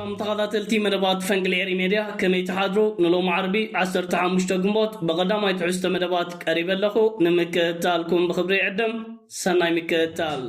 ሰላም ተኻታተልቲ መደባት ፈንቅል ኤሪ ሜድያ ከመይ ትሓድሩ ንሎሚ ዓርቢ ዓሰርተ ሓሙሽተ ግንቦት ብቐዳማይ ትሕዝቶ መደባት ቀሪበ ኣለኹ ንምክእታልኩም ብኽብሪ ይዕድም ሰናይ ምክእታል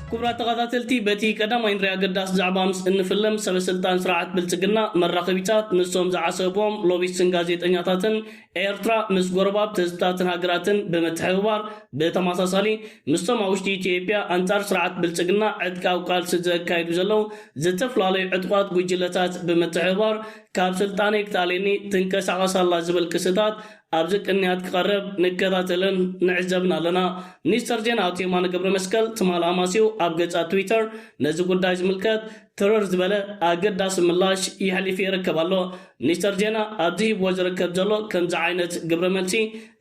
ክቡራት ተኸታተልቲ በቲ ቀዳማይ ንሪኣ ገዳስ ዛዕባ ምስ እንፍልም ሰበስልጣን ስርዓት ብልፅግና መራኸቢታት ንሶም ዝዓሰብዎም ሎቢስትን ጋዜጠኛታትን ኤርትራ ምስ ጎረባብቲ ህዝብታትን ሃገራትን ብምትሕብባር ብተማሳሳሊ ምስቶም ኣብ ውሽጢ ኢትዮጵያ ኣንጻር ስርዓት ብልጽግና ዕጥቃዊ ቃልሲ ዘካይዱ ዘለዉ ዝተፈላለዩ ዕጡቓት ጉጅለታት ብምትሕብባር ካብ ስልጣነይ ክትኣልየኒ ትንቀሳቐስ ኣላ ዝብል ክስታት ኣብዚ ቅንያት ክቐርብ ንከታተልን ንዕዘብን ኣለና። ሚኒስተር ዜና ኣቶ የማነ ገብረመስቀል ትማል ኣማስዩ ኣብ ገጻት ትዊተር ነዚ ጉዳይ ዝምልከት ትርር ዝበለ ኣገዳሲ ምላሽ የሕሊፉ ይርከብ ኣሎ። ሚኒስተር ዜና ኣብዚ ሂብዎ ዝርከብ ዘሎ ከምዚ ዓይነት ግብረ መልሲ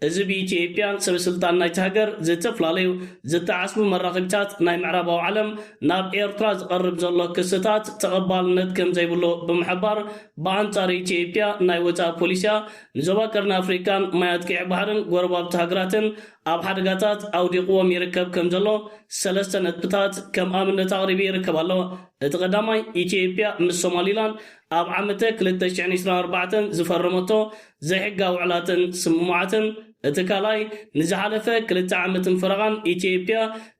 እዚ ብኢትዬጵያን ሰበ ስልጣን ናይቲ ሃገር ዝተፈላለዩ ዝተዓስቡ መራኸቢታት ናይ ምዕራባዊ ዓለም ናብ ኤርትራ ዝቐርብ ዘሎ ክስታት ተቐባልነት ከምዘይብሉ ብምሕባር ብኣንጻር ኢትዬጵያ ናይ ወጻኢ ፖሊሲኣ ንዞባ ቀርኒ ኣፍሪቃን ማያት ቀይሕ ባሕርን ጎረባብቲ ሃገራትን ኣብ ሓደጋታት ኣውዲቕዎም ይርከብ ከምዘሎ ሰለስተ ነጥብታት ከም ኣብነት ኣቕሪቡ ይርከብ ኣሎ እቲ ቀዳማይ ኢትዬጵያ ምስ ሶማሊላንድ ኣብ ዓመተ ክልተ ሽሕን ዒስራን ኣርባዕተን ዝፈረመቶ ዘይሕጋዊ ውዕላትን ስምምዓትን፣ እቲ ካልኣይ፣ ንዝሓለፈ ክልተ ዓመትን ፈረቓን ኢትዬጵያ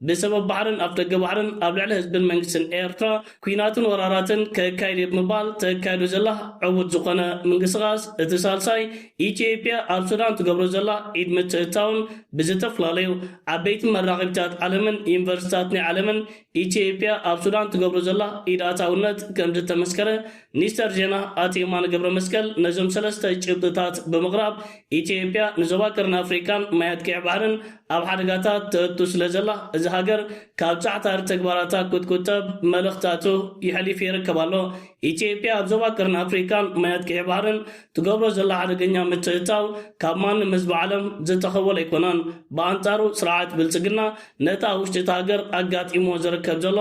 ብሰበብ ባሕርን ኣፍደገ ባሕርን ኣብ ልዕሊ ህዝብን መንግስትን ኤርትራ ኩናትን ወራራትን ከካይድ እየ ብምባል ተካይዶ ዘላ ዕቡት ዝኾነ ምንቅስቓስ፣ እቲ ሳልሳይ፣ ኢትዬጵያ ኣብ ሱዳን ትገብሮ ዘላ ኢድ ምትእትታውን ብዝተፍላለዩ ዓበይቲ መራኸቢታት ዓለምን ዩኒቨርሲታት ናይ ዓለምን ኢትዮጵያ ኣብ ሱዳን ትገብሮ ዘላ ኢድ ኣታውነት ከምዝተመስከረ ሚኒስተር ዜና ኣቶ የማነ ገብረመስቀል ነዞም ሰለስተ ጭብጥታት ብምቕራብ ኢትዮጵያ ንዞባ ቀርኒ ኣፍሪቃን ማያት ቀይሕ ባሕርን ኣብ ሓደጋታት ተእቱ ስለዘላ እዛ ሃገር ካብ ጻዕታሪ ተግባራታ ክትቁጠብ መልእኽታቱ የሕሊፉ ይርከብ ኣሎ። ኢትዮጵያ ኣብ ዞባ ቀርኒ ኣፍሪቃን ማያት ቀይሕ ባሕርን ትገብሮ ዘላ ሓደገኛ ምትእትታው ካብ ማንም ህዝቢ ዓለም ዝተኸወለ ኣይኮነን። ብኣንጻሩ ስርዓት ብልጽግና ነቲ ኣብ ውሽጢ እታ ሃገር ኣጋጢምዎ ዝርከብ ዘሎ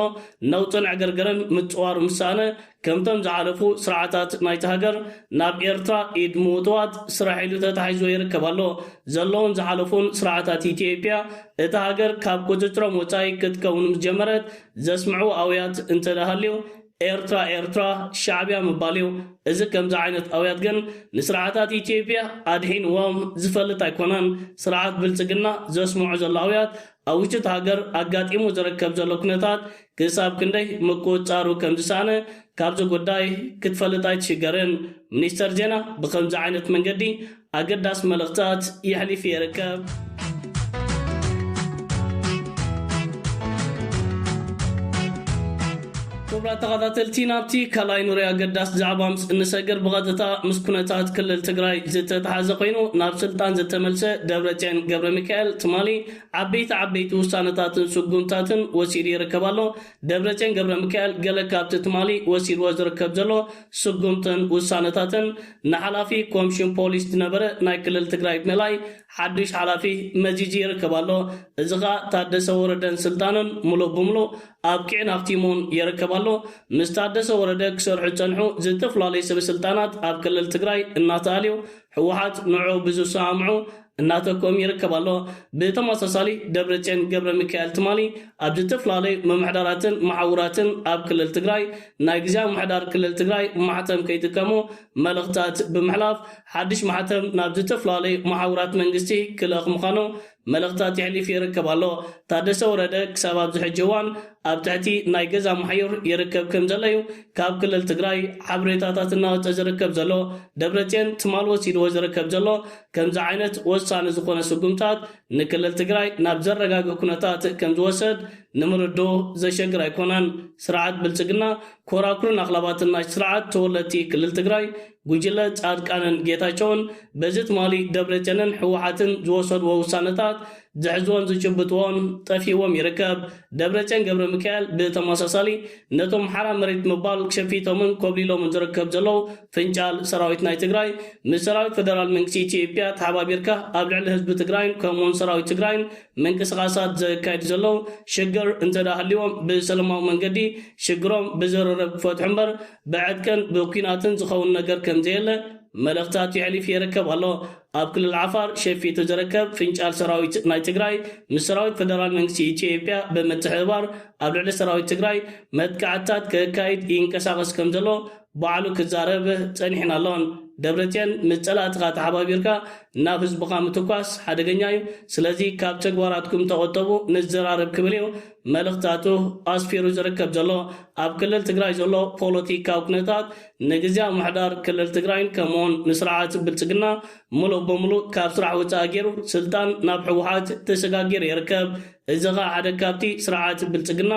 ነውጥን ዕግርግርን ምጽዋር ምስ ሰኣነ፣ ከምቶም ዝሓለፉ ስርዓታት ናይታ ሃገር፣ ናብ ኤርትራ ኢድ ምውትዋት ስራሕ ኢሉ ተታሒዝዎ ይርከብ ኣሎ። ዘለዉን ዝሓለፉን ስርዓታት ኢትዬጵያ፣ እታ ሃገር ካብ ቁጽጽሮም ወጻኢ ክትከውን ምስ ጀመረት ዘስምዕዎ ኣውያት እንተድኣ ሃልዩ፣ ኤርትራ ኤርትራ ሻዕብያ ምባል እዩ እዚ ከምዚ ዓይነት ኣውያት ግን ንስርዓታት ኢትዮጵያ ኣድሒንዎም ዝፈልጥ ኣይኮነን ስርዓት ብልጽግና ዘስምዖ ዘሎ ኣውያት ኣብ ውሽጢ እቲ ሃገር ኣጋጢሙ ዝርከብ ዘሎ ኩነታት ክሳብ ክንደይ ምቁጽጻሩ ከም ዝሰኣነ ካብዚ ጉዳይ ክትፈልጥ ኣይትሽገርን ሚኒስተር ዜና ብከምዚ ዓይነት መንገዲ ኣገዳሲ መልእኽታት የሕሊፉ ይርከብ። ክቡራት ተኸታተልቲ ናብቲ ካልኣይ ንሪኦ ኣገዳሲ ዛዕባ ምስ እንሰግር ብቐጥታ ምስ ኩነታት ክልል ትግራይ ዝተተሓዘ ኮይኑ ናብ ስልጣን ዝተመልሰ ደብረፅዮን ገብረሚካኤል ትማሊ ዓበይቲ ዓበይቲ ውሳነታትን ስጉምታትን ወሲዱ ይርከብ ኣሎ። ደብረጽዮን ገብረሚካኤል ገለ ካብቲ ትማሊ ወሲድዎ ዝርከብ ዘሎ ስጉምትን ውሳነታትን ንሓላፊ ኮምሽን ፖሊስ ዝነበረ ናይ ክልል ትግራይ ብምእላይ ሓዱሽ ሓላፊ መዚዙ ይርከብ ኣሎ። እዚ ከኣ ታደሰ ወረደን ስልጣኑን ምሉእ ብምሉእ ኣብቂዑን ኣኽቲሙን ይርከብ ኣሎ። ምስ ታደሰ ወረደ ክሰርሑ ዝጸንሑ ዝተፈላለዩ ሰበስልጣናት ኣብ ክልል ትግራይ እናተኣልዩ ህወሓት ንዑ ብዝሰማምዑ እናተኮም ይርከብ ኣሎ። ብተመሳሳሊ ደብረፅዮን ገብረሚካኤል ትማሊ ኣብ ዝተፈላለዩ ምምሕዳራትን መሓውራትን ኣብ ክልል ትግራይ ናይ ግዝያዊ ምምሕዳር ክልል ትግራይ ማሕተም ከይጥቀሙ መልእኽታት ብምሕላፍ ሓድሽ ማሕተም ናብ ዝተፈላለዩ መሓውራት መንግስቲ ክልእኽ ምዃኑ መልእኽታት የሕሊፍ ይርከብ ኣሎ። ታደሰ ወረደ ክሳብ ኣብዚ ሕጂ እዋን ኣብ ትሕቲ ናይ ገዛ ማሕዩር ይርከብ ከም ዘሎ እዩ ካብ ክልል ትግራይ ሓብሬታታት እናወጸ ዝርከብ ዘሎ። ደብረጼን ትማል ወሲድዎ ዝርከብ ዘሎ ከምዚ ዓይነት ወሳኒ ዝኾነ ስጉምታት ንክልል ትግራይ ናብ ዘረጋግእ ኩነታት ከም ዝወሰድ ንምርድኡ ዘሸግር ኣይኮነን። ስርዓት ብልጽግና ኮራኩርን ኣኽላባትን ናይቲ ስርዓት ተወለድቲ ክልል ትግራይ ጉጅለ ፃድቃንን ጌታቸውን በዚ ትማሊ ደብረቸንን ህወሓትን ዝወሰድዎ ውሳነታት ዝሕዝዎን ዝጭብጥዎን ጠፊእዎም ይርከብ። ደብረቸን ገብረሚካኤል ብተመሳሳሊ ነቶም ሓራ መሬት ምባል ሸፊቶምን ኮብሊሎምን ዝርከብ ዘለው ፍንጫል ሰራዊት ናይ ትግራይ ምስ ሰራዊት ፈደራል መንግስቲ ኢትዮጵያ ተሓባቢርካ ኣብ ልዕሊ ህዝቢ ትግራይን ከምኡውን ሰራዊት ትግራይን ምንቅስቓሳት ዘካይዱ ዘለው ሽግር እንተድኣ ሃልይዎም ብሰለማዊ መንገዲ ሽግሮም ብዝርርብ ክፈትሑ እምበር ብዕጥቅን ብኲናትን ዝኸውን ነገር ከምዘየለ መልእኽታት የሕሊፍ የርከብ ኣሎ። ኣብ ክልል ዓፋር ሸፊቱ ዝርከብ ፍንጫል ሰራዊት ናይ ትግራይ ምስ ሰራዊት ፈደራል መንግስቲ ኢትዮጵያ ብምትሕብባር ኣብ ልዕሊ ሰራዊት ትግራይ መጥቃዕትታት ከካይድ ይንቀሳቐስ ከምዘሎ ባዕሉ ክዛረብ ጸኒሕን ኣሎን። ደብረጽዮን ምስ ጸላእትኻ ተሓባቢርካ ናብ ህዝብኻ ምትኳስ ሓደገኛ'ዩ፣ ስለዚ ካብ ተግባራትኩም ተቖጠቡ ንዘራረብ ክብል'ዩ መልእኽታቱ ኣስፊሩ ዝርከብ ዘሎ፣ ኣብ ክልል ትግራይ ዘሎ ፖለቲካዊ ኩነታት ንግዝያዊ ምምሕዳር ክልል ትግራይን ከምኡ'ውን ንስርዓት ብልጽግና ምሉእ ብምሉእ ካብ ስራሕ ወጻኢ ገይሩ ስልጣን ናብ ህወሓት ተሰጋጊሩ ይርከብ። እዚ ኸኣ ሓደ ካብቲ ስርዓት ብልጽግና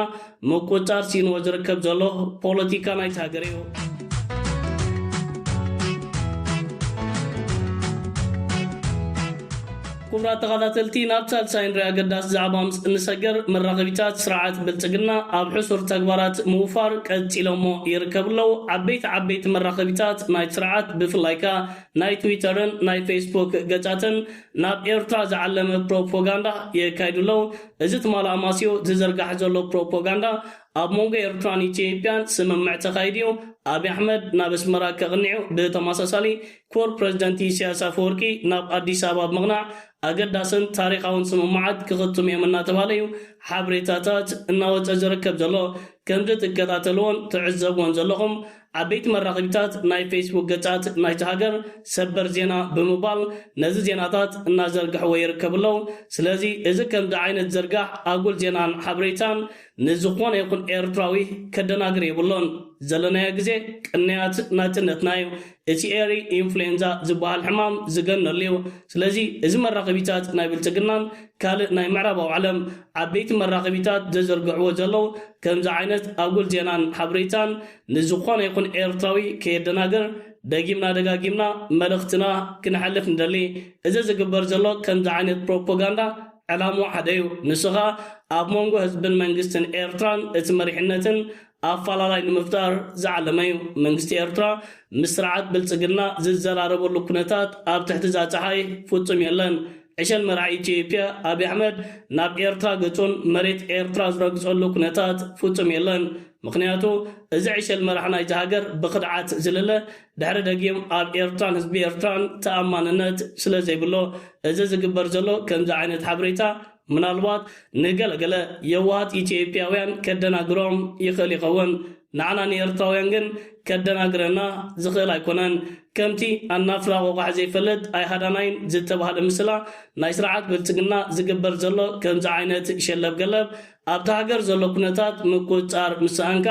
ምቁጽጻር ስኢንዎ ዝርከብ ዘሎ ፖለቲካ ናይታ ሃገር እዩ። ኩቡራት ተኻታተልቲ ናብ ሳልሳይ ን ኣገዳሲ ዛዕባ ምስ እንሰገር መራኸቢታት ስርዓት ብልጽግና ኣብ ሕሱር ተግባራት ምውፋር ቀጺሎሞ ይርከቡ ኣለው። ዓበይቲ ዓበይቲ መራኸቢታት ናይቲ ስርዓት ብፍላይ ከኣ ናይ ትዊተርን ናይ ፌስቡክ ገጻትን ናብ ኤርትራ ዝዓለመ ፕሮፖጋንዳ የካይዱ ኣለው። እዚ ትማል ኣማስዩ ዝዝርጋሕ ዘሎ ፕሮፖጋንዳ ኣብ መንጎ ኤርትራን ኢትዮጵያን ስምምዕ ተኻይዱ እዩ። ኣብይ ኣሕመድ ናብ ኣስመራ ከቕኒ'ዩ። ብተመሳሳሊ ክቡር ፕረዚደንት ኢሳያስ ኣፈወርቂ ናብ ኣዲስ ኣበባ ብምቕናዕ ኣገዳስን ታሪኻውን ስምምዓት ክኽትሙ እዮም እናተባህለ እዩ ሓበሬታታት እናወፀ ዝርከብ ዘሎ። ከምዚ ትከታተልዎን ትዕዘብዎን ዘለኹም ዓበይቲ መራኸቢታት ናይ ፌስቡክ ገፃት ናይታ ሃገር ሰበር ዜና ብምባል ነዚ ዜናታት እናዘርግሕዎ ይርከቡ ኣለው። ስለዚ እዚ ከምዚ ዓይነት ዝርጋሕ ኣጉል ዜናን ሓበሬታን ንዝኾነ ይኹን ኤርትራዊ ከደናግር የብሉን። ዘለናዮ ግዜ ቅንያት ናጽነትና እዩ። እቲ ኤሪ ኢንፍሉዌንዛ ዝበሃል ሕማም ዝገነሉ እዩ። ስለዚ እዚ መራኸቢታት ናይ ብልጽግናን ካልእ ናይ ምዕራባዊ ዓለም ዓበይቲ መራኸቢታት ዘዝርግሕዎ ዘለዉ ከምዚ ዓይነት ኣጉል ዜናን ሓብሬታን ንዝኾነ ይኹን ኤርትራዊ ከየደናግር ደጊምና ደጋጊምና መልእኽትና ክነሕልፍ ንደሊ። እዚ ዝግበር ዘሎ ከምዚ ዓይነት ፕሮፖጋንዳ ዕላምኡ ሓደ'ዩ፣ ንሱ ከኣ ኣብ መንጎ ህዝብን መንግስትን ኤርትራን እቲ መሪሕነትን ኣፋላላይ ንምፍጣር ዝዓለመ'ዩ። መንግስቲ ኤርትራ ምስ ስርዓት ብልጽግና ዝዘራረበሉ ኩነታት ኣብ ትሕቲ'ዛ ጸሓይ ፍጹም የለን። ዕሸል መራሒ ኢትዮጵያ ኣቢ ኣሕመድ ናብ ኤርትራ ገጹን መሬት ኤርትራ ዝረግጸሉ ኩነታት ፍጹም የለን። ምኽንያቱ እዚ ዕሸል መራሕ ናይዛ ሃገር ብኽድዓት ዝልለ ድሕሪ ደጊም ኣብ ኤርትራን ህዝቢ ኤርትራን ተኣማንነት ስለዘይብሎ እዚ ዝግበር ዘሎ ከምዚ ዓይነት ሓብሬታ ምናልባት ንገለ ገለ የዋሃት ኢትዮጵያውያን ከደናግሮም ይኽእል ይኸውን ንዓና ንኤርትራውያን ግን ከደናግረና ዝኽእል ኣይኮነን ከምቲ ኣናፍራ ቆቛሕ ዘይፈልጥ ኣይሃዳናይን ዝተባህለ ምስላ ናይ ስርዓት ብልጽግና ዝግበር ዘሎ ከምዚ ዓይነት ሸለብ ገለብ ኣብታ ሃገር ዘሎ ኩነታት ምቁጽጻር ምስ ሰኣንካ፣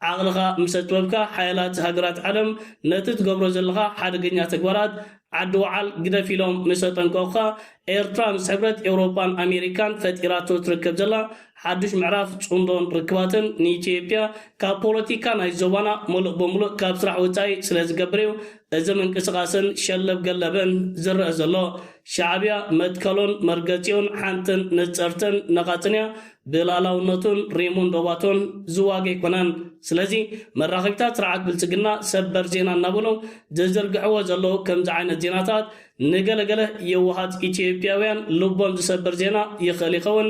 ዓቕልኻ ምስ ኣጥበብካ፣ ሓያላት ሃገራት ዓለም ነቲ ትገብሮ ዘለኻ ሓደገኛ ተግባራት ዓዲ ወዓል ግደፍ ኢሎም ምስ ኣጠንቀቑኻ፣ ኤርትራ ምስ ሕብረት ኤውሮጳን ኣሜሪካን ፈጢራቶ ትርከብ ዘላ ሓዱሽ ምዕራፍ ጽምዶን ርክባትን ንኢትዮጵያ ካብ ፖለቲካ ናይዚ ዞባና ምሉእ ብምሉእ ካብ ስራሕ ወጻኢ ስለዝገብር'ዩ እዚ ምንቅስቓስን ሸለብ ገለብን ዝረእ ዘሎ ሻዕብያ መትከሉን መርገጺኡን ሓንትን ንጽርትን ነቓጽን እያ። ብልኣላውነቱን ሪሙን ዶባቱን ዝዋገ ኣይኮነን። ስለዚ መራኸቢታት ስርዓት ብልጽግና ሰበር ዜና እናበሉ ዝዝርግሕዎ ዘለዉ ከምዚ ዓይነት ዜናታት ንገለ ገለ የዋሃት ኢትዮጵያውያን ልቦም ዝሰብር ዜና ይኽእል ይኸውን።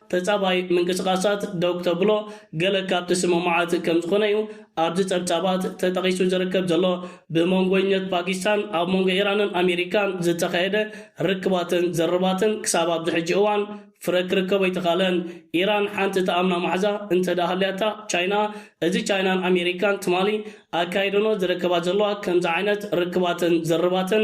ተጻባይ ምንቅስቓሳት ደው ክተብሎ ገለ ካብቲ ስምምዓት ከም ዝኾነ'ዩ ኣብዚ ጸብጻባት ተጠቒሱ ዝርከብ ዘሎ። ብመንጎኝነት ፓኪስታን ኣብ መንጎ ኢራንን ኣሜሪካን ዝተኻየደ ርክባትን ዝርርባትን ክሳብ ኣብዚ ሕጂ እዋን ፍረ ክርከቦ ኣይተኻእለን። ኢራን ሓንቲ ትኣምና ማሕዛ እንተድኣ ሃልያታ ቻይና እዚ ቻይናን ኣሜሪካን ትማሊ ኣካይደንኦ ዝርከባ ዘለዋ ከምዚ ዓይነት ርክባትን ዝርርባትን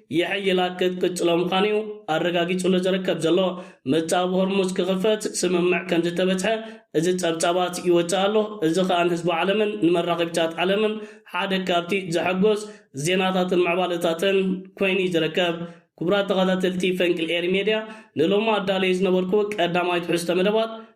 የሐይላ ክትቅጽሎ ምዃኑ'ዩ ኣረጋጊጹሉ ዝርከብ ዘሎ። ምጻብ ሆርሙዝ ክኽፈት ስምምዕ ከም ዝተበጽሐ እዚ ጸብጻባት ይወጽእ ኣሎ። እዚ ከኣ ንህዝቢ ዓለምን ንመራኸቢታት ዓለምን ሓደ ካብቲ ዘሐጎስ ዜናታትን ምዕባለታትን ኮይኑ'ዩ ዝርከብ። ክቡራት ተኸታተልቲ ፈንቅል ኤሪ ሜድያ ንሎሚ ኣዳልየዮ ዝነበርኩ ቀዳማይ ትሕዝቶ መደባት